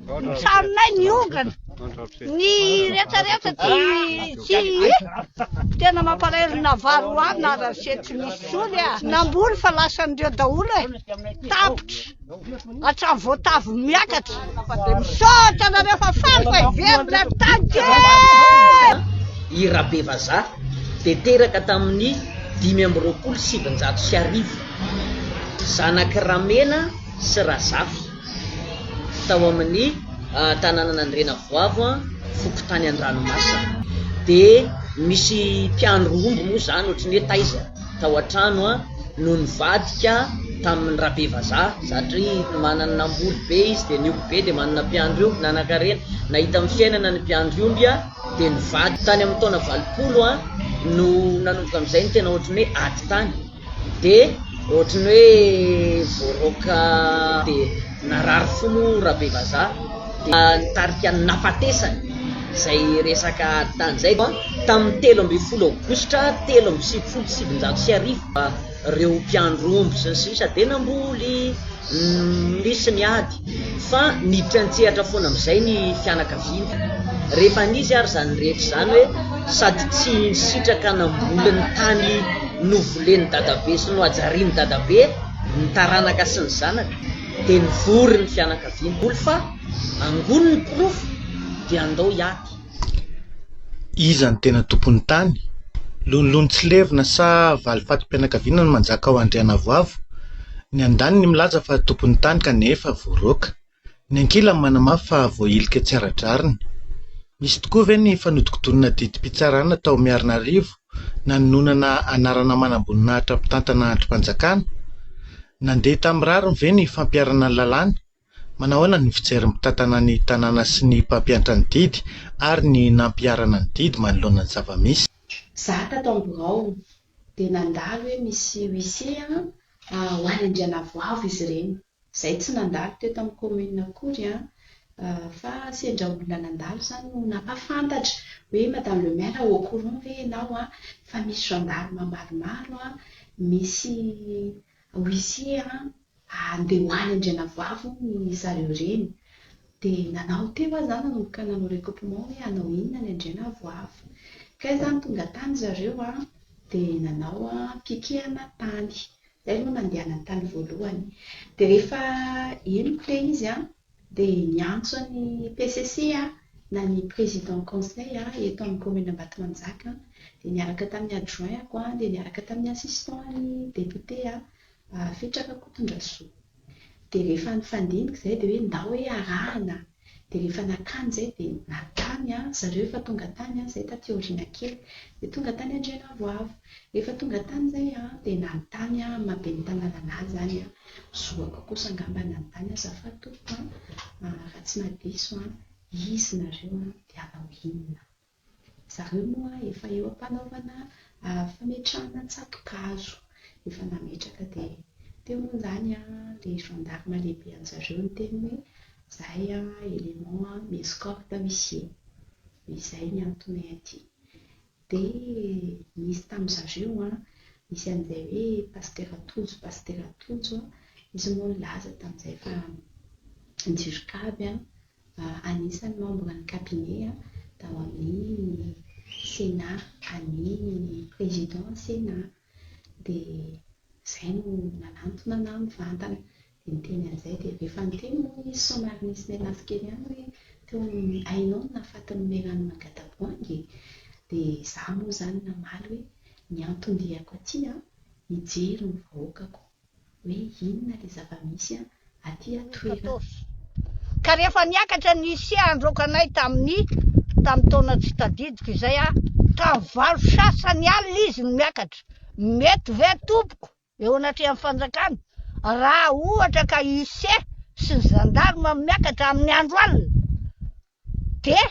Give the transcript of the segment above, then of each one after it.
Misarinay ny ongana, ny retraretra tsy tsy tena mampalahelo na vary ho ahy na rase tsy misy sony ah. Namboly fa lasan'ireo daholo e. Tapitra hatramin'ny voatavo miakatra. Misaotra anareo fa faly fa hiverina taniko e. I Rabevazaha dia teraka tamin'ny dimy amby roapolo sy sivinjato sy arivo. Zanak'i Ramena sy Razafy. tao amin'ny tanànan'Andriana Avoavo, fokontany Andranomasina. Dia misy mpiandry omby moa izany ohatran'ny hoe taiza tao an-trano no nivadika tamin'ny Rabevazaha satria manana namboly be izy dia ny omby be dia manana mpiandry omby. Nanankarena, nahita amin'ny fiainana ny mpiandry omby dia nivadika. Tany amin'ny taona valopolo no nanomboka amin'izay ny tena ohatran'ny hoe ady tany. De ohatry ny hoe voaroaka de narary fo moa Rabevazaha dia nitarika ny nafatesany izay resaka tany izay an, tamin'ny telo ambin'ny folo aogositra telo amby sivifolo sy sivinjato sy arivo ireo mpiandry omby sy ny sisa dia namboly nisy ny ady. Fa niditra an-tsehatra foana amin'izay ny fianakaviany. Rehefa nisy ary izany rehetra izany hoe sady tsy nisitraka namboly ny tany novolen'i Dadabe sy nohajarian'i Dadabe ny taranaka sy ny zanaka dia nivory ny fianakaviany. Mboly fa angonin'ny porofo dia andao hiady. Iza no tena tompon'ny tany? Lonilony tsy levona sa valifatim-pianakaviana no manjaka ao Andrianavoavo? Ny andaniny milaza fa tompon'ny tany kanefa voaroaka. Ny ankilany manamafy fa voahilika tsy ara-drariny. Nisy tokoa ve ny fanodinkodinana didim-pitsarana tao Miarinarivo nanononana anarana manamboninahitra mpitantana andrim-panjakana? Nandeha tamin'ny rariny ve ny fampiharana ny lalàna? Manahoana ny fijery mitantana ny tanàna sy ny mpampiantra ny didy ary ny nampiharana ny didy manoloana ny zava-misy? Za tato am birao de nandalo hoe misy huissier an ho any Andrianavoavo izy ireny, zay tsy nandalo teto am commune akory an, fa sendra olona nandalo zany no nampafantatra hoe madame le maire au courant ve enao an fa misy gendarme maromaro an misy Ho isia an! Handeha ho any Andrianavoavy hono i zareo reny. Dia nanao teo aho za nanomboka nanao recoupement hoe hanao inona any Andrianavoavy. Kay za tonga tany zareo an! Dia nanao pikehana tany. Zay aloha nandehanany tany voalohany. Dia rehefa henoko ilay izy an! Dia niantso an'i PCC na ny Président Conseil eto amin'ny Commune Ambatomanjaka dia niaraka tamin'ny Adjoint-ako dia niaraka tamin'ny Assistant ny Député Fitr Rakotondrasoa. Dia rehefa nifandimby izay dia hoe ndao hoe arahana. Dia rehefa nakany izay dia nakany zareo efa tonga tany izay taty aoriana kely. Dia tonga tany Andrianavoavo. Rehefa tonga tany izay dia nanontany amin'ny maha-ben'ny tanàna an'ahy izany aho. Zoako kosa angamba ny anotany azafady tompoko an! raha tsy maha diso an! izy nareo an! dia hanao inona? zareo moa efa eo ampanaovana fametrahana tsato-kazo efa nametraka dia teo moa izany an! le gendarme lehibe anjareo niteny hoe zay an! element an! mi-escorte huissier izay ny antonay aty Dia nisy tamin-dry zareo an, nisy an'izay hoe Pasitera Tojo, Pasitera Tojo an, izy moa nilaza tamin'izay fa Jirikavy an, anisan'ny membre ny cabinet an, tao amin'ny Sénat, an'ny Président Sénat. Dia izay no nanantona anah mivantana. Dia teny amin'izay dia efa niteny hono izy somary nisy nianafy kely ihany hoe teo amin'ny hainao ny nahafatin'i Melanie Magataboangy e! Dia izaho moa izany namaly hoe ny anton-diako aty an, hijery ny vahoakako hoe inona ilay zava-misy an, aty an-toerana. Ka rehefa niakatra ny isia handroaka anay tamin'ny tamin'ny taona tsy tadidiko izay an, tamin'ny valo sasany alina izy no miakatra, mety ve tompoko? eo anatrehan'ny fanjakana raha ohatra ka ise sy ny zandarma miakatra amin'ny andro alina dia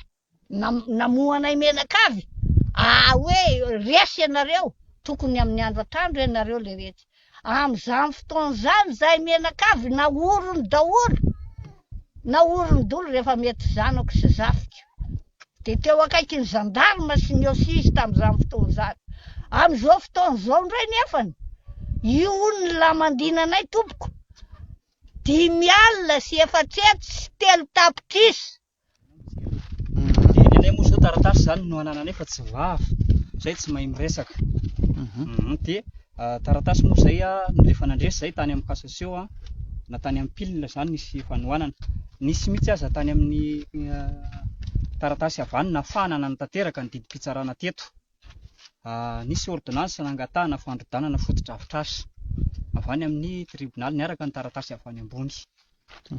namohanay menakavy ah hoe resy ianareo tokony amin'ny andro atandro ianareo le retsy amin'izany fotoana izany zahay menakavy nahorony daholo Naorin-doly rehefa mety zanako sy zafiko, dia teo akaiky ny zandarma sy ny OSI izy tamin'izany fotoana izany. Amin'izao fotoana izao indray nefany, io hono ny lamandiana anay tompoko, dimy alina sy efatsy hetsy sy telo tapitrisa Nenay moa zao taratasy izany no anananay fa tsy vava, izay tsy mahay miresaka. Mhm. Dia ah, taratasy moa izay ah, no efa nandresy izay tany amin'ny cassation ah, na tany amin'ny pil izany nisy fanohanana. Nisy mihitsy aza tany amin'ny ah, taratasy avy any nahafahana nanatanteraka ny didim-pitsarana teto. Nisy ôrdônansa nangatahana fandrodanana fotodrafitrasa avy any amin'ny tribonaly niaraka ny taratasy avy any ambony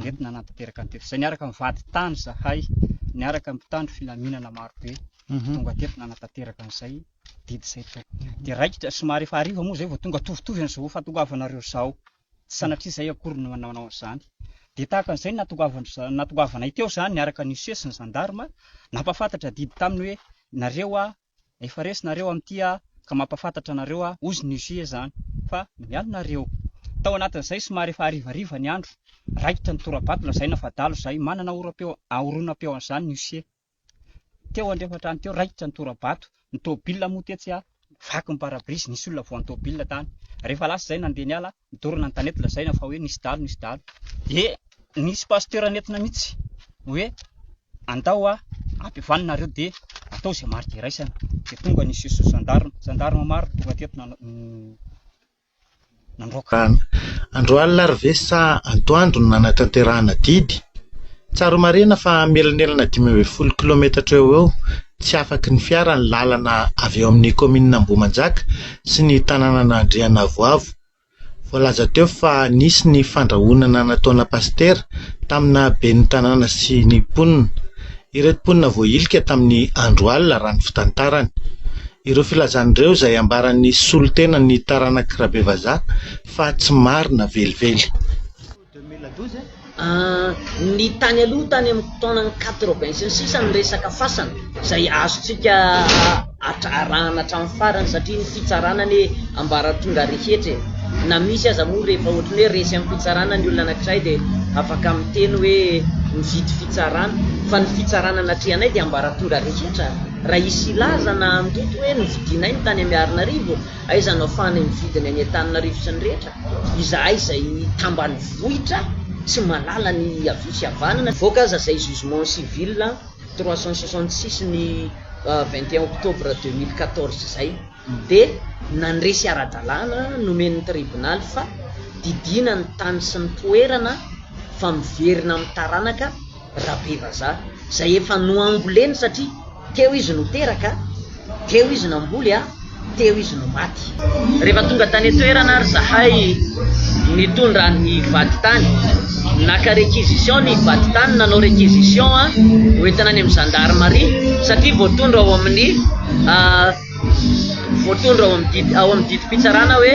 nentina nanatanteraka ny teto. Izay niaraka amin'ny vadintany izahay, niaraka amin'ny mpitandro filaminana marobe mhm. tonga teto nanatanteraka an'izay didy izay teo. Dia raikitra somary efa hariva moa izay vao tonga tovitovy an'izao fahatongavanareo izao. tsy sanatria izay akory no nanaonao an'izany. Dia tahaka an'izay no nahatongavanay teo izany niaraka an'i Use sy ny zandarma, nampahafantatra adidy taminy hoe, nareo aho, efa resy nareo amin'ity aho ka mampahafantatra anareo aho, hozy ny Use izany, fa miala nareo. Tao anatin'izay somary efa harivariva ny andro, raikitra ny tora-bato lazaina fa adalo izay, manana oram-peo, horonam-peo an'izany ny Use. Teo andrefan-trano teo, raikitra ny tora-bato, ny tomobilina moa tetsy a, vaky ny pare-brise, nisy olona voan'ny tomobilina tany. Rehefa lasa izay nandeha niala, midorana ny tanety lazaina fa hoe nisy dahalo, nisy dahalo. Dia nisy pasteur nentina mihitsy hoe andao a, ampihavanina nareo dia atao izay marika iraisana. Dia tonga nisy zandary, zandarma maro tonga teto Nandroaka andro alina ary ve sa antoandro no nanatanterahana didy? Tsara marihina fa mielanelana dimy ambin'ny folo kilaometatra eo ho eo tsy afaky ny fiara ny lalana avy eo amin'ny kaominina Ambohimanjaka sy ny tanànan' Andrianavoavo. Voalaza teo fa nisy ny fandrahonana nataona pasitera tamina ben'ny tanàna sy ny mponina. Ireto mponina voahilika tamin'ny andro alina raha ny fitantarany. Ireo filazana ireo izay ambaran'ny solontenan'ny taranak'i Rabevazaha fa tsy marina velively. Ny tany aloha tany amin'ny taonan'ny quatre-vingt sy ny sisa ny resaka fasana izay azontsika arahana hatramin'ny farany satria ny fitsarana anie ambaratonga rehetra e! na misy aza moa rehefa ohatry ny hoe resy amin'ny fitsarana ny olona anankiray dia afaka miteny hoe mividy fitsarana fa ny fitsarana anatrehanay dia ambaratonga rehetra. Raha hisy hilaza na handoto hoe novidianay ny tany Miarinarivo, aiza no afahanay mividy ny any Antananarivo sy ny rehetra? Izahay izay tambanivohitra tsy mahalala ny havia sy havanana. Mivoaka aza izay jugement civil trois cent soixante six ny vingt et un octobre deux mille quatorze izay. Mbe nandresy ara-dalàna nomen'ny tribonaly fa didiana ny tany sy ny toerana fa miverina amin'ny taranaka Rabevazaha izay efa noamboleny satria teo izy no teraka, teo izy namboly a, teo izy no maty. Rehefa tonga tany an-toerana ary zahay nitondra ny vadintany, naka réquisition ny vadintany, nanao réquisition hoentina any amin'ny zandarimaria satria voatondro ao amin'ny. voatondro ao amin'ny didy ao amin'ny didim-pitsarana hoe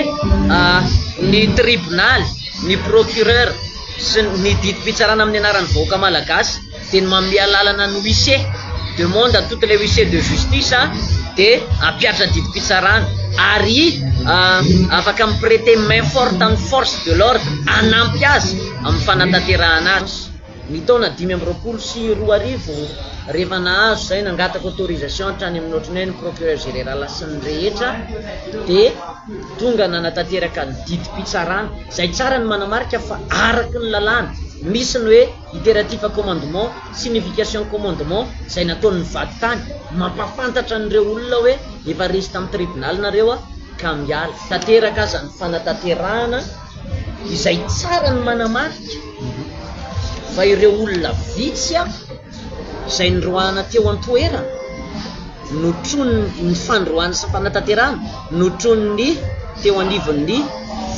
ny tribonaly, ny procureur sy ny didim-pitsarana amin'ny anaran'ny vahoaka malagasy dia ny manome alalana ny huissier demande à toutes les huissiers de justice dia ampiatra didim-pitsarana ary afaka mi-preter main forte amin'ny force de l'ordre hanampy azy amin'ny fanatanterahana azy. Ny taona dimy amby roapolo sy roa arivo, rehefa nahazo izahay, nangataka autorisation hatrany amin'ny ohatry ny hoe ny Procureur Général sy ny rehetra, dia tonga nanatanteraka ny didim-pitsarana, izay tsara ny manamarika fa araka ny lalàna, misy ny hoe iteratif commandement, signification commandement, izay nataon'ny vadintany, mampahafantatra an'ireo olona hoe efa resy tamin'ny tribunal nareo ka miala. Tanteraka aza ny fanatanterahana. izay tsara ny manamarika fa ireo olona vitsy izay niroahana teo an-toerana no tronin'ny ny fandroahana sy fanatanterahana no troniny teo anivon'ny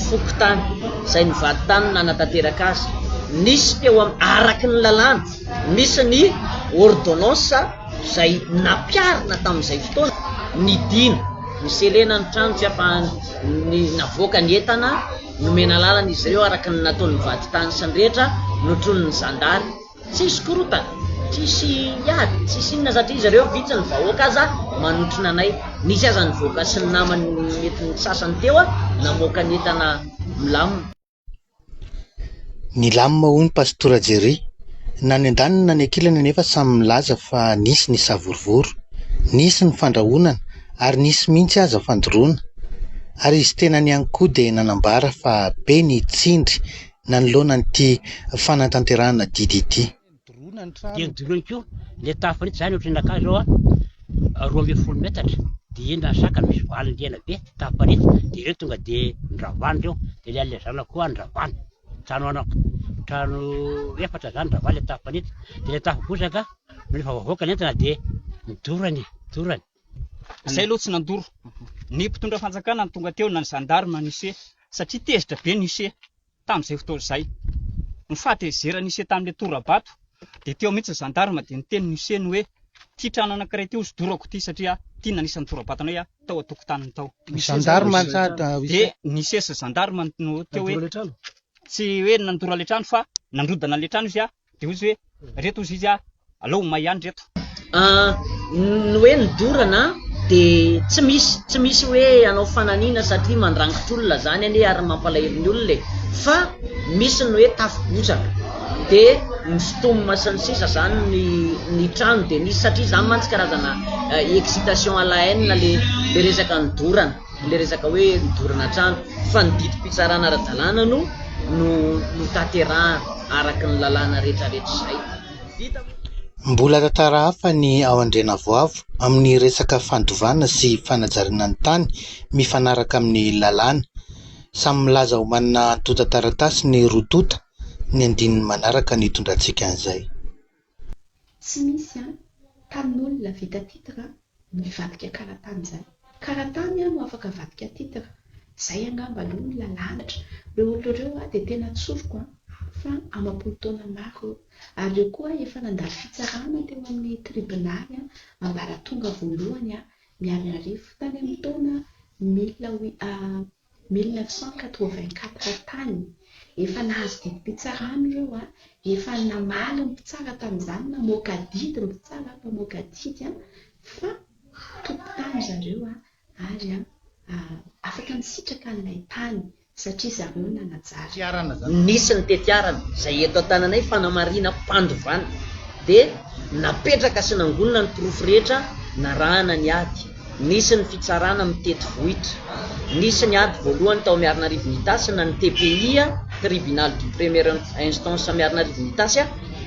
fokontany izay ny vadintany nanatanteraka azy nisy teo am araky ny lalàna nisy ny ordonnance izay nampiarina tamin'izay fotoana ny dina ny selena ny trano tsy ampahany ny navoaka ny entana, nomena lalana izy ireo araka ny nataon'ny vadintany sy ny rehetra, notronin'ny zandary, tsisy korotana, tsisy ady, tsisy inona satria izy ireo vitsy ny vahoaka aza manotrona anay, nisy aza nivoaka sy ny namany mety ny sasany teo namoaka ny entana milamina. Nilamina hono Pastora Jerry. Na ny andaniny na ny ankilany anefa samy milaza fa nisy ny savorovoro, nisy ny fandrahonana ary nisy mihitsy aza fandoroana. Ary izy tenany ihany koa dia nanambara fa be ny tsindry nanoloana an'ity fanatanterahana didy ity. dia nodoroany koa ilay tafo fanitso, izany ohatran'ny nakà izao a, roa ambin'ny folo metatra, dia eny raha saka misy valiny rihana be, tafo fanitso, dia ireo tonga dia nravana ireo, dia ilay an'ilay zanako koa nravana, trano ana, trano efatra izany nravana ilay tafo fanitso, dia ilay tafo bozaka no rehefa voavoaka ny entana dia nidorany, nidorany. Izay aloha tsy nandoro, ny mpitondra fanjakana no tonga teo na ny gendarme, ny huissier, satria tezitra be ny huissier. Tamin'izay fotoana izay, ny fahatezeran'i Ise tamin'ilay tora-bato dia teo mihitsy ny zandarma dia niteny ny Ise ny hoe, ity trano anankiray ity hosodorako ity satria ity nanisa ny tora-bato anay aho tao an-tokotaniny tao. Ny zandarma dia ny Ise sy ny zandarma no teo hoe, tsy hoe nandoro ilay trano fa nandrodana ilay trano izy Dia hoy izy hoe, Ireto hozy izy a, alao ho may ihany ireto. An, ny hoe ny dorana dia tsy misy, tsy misy hoe hanao fananina satria mandrangitra olona zany anie ary mampalahelo ny olona e, fa misy ny hoe tafi-botsaka dia misotomina sy ny sisa zany ny ny trano dia misy satria zany mantsy karazana excitation à la haine le le resaka ny dorana. Ilay resaka hoe nidorana trano fa ny didim-pitsarana ara-dalàna no no notanterahana araka ny lalàna rehetrarehetra izay vita moa. Mbola tantara hafa ny ao Andrianavoavo amin'ny resaka fandovana sy fanajariana ny tany mifanaraka amin'ny lalàna. Samy milaza ho manana antontan-taratasy ny roa tonta, ny andininy manaraka no hitondrantsika an'izay. Tsy misy an! Tany olona vita titre an! no hivadika karatany izany. Karatany an no afaka avadika titre. Izay angamba aloha no lalanitra. Ireo olona ireo an dia tena tsoriko an! fa amam-polo taona maro eo. Ary ireo koa efa nandalo fitsarana teo amin'ny tribonaly an! ambaratonga voalohany an! Miariarivo tany amin'ny taona mille huit. 1984 tany, efa nahazo didim-pitsarana ireo a, efa namaly ny mpitsara tamin'izany, namoaka adidy ny mpitsara, mpamoaka adidy a, fa tompon-tany zareo a, ary a, afaka nisitraka an'ilay tany, satria zareo no nanajary. Nisy ny tetiarana, izay eto an-tananay fanamarinam-pandovana, dia napetraka sy nangonina ny porofo rehetra narahana ny ady. Nisy ny fitsarana mitety vohitra. Nisy ny ady voalohany tao Miarinarivo Itasy na ny TPI, Tribunal de Première Instance Miarinarivo Itasy,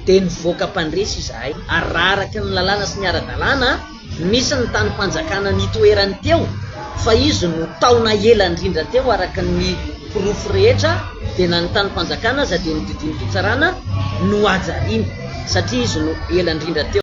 dia nivoaka mpandresy izahay ary raha araka ny lalàna sy ny ara-dalàna, misy ny tanim-panjakana nitoerany teo fa izy no taona ela indrindra teo araka ny porofo rehetra dia na ny tanim-panjakana aza dia ny didim-pitsarana no hajariana satria izy no ela indrindra teo.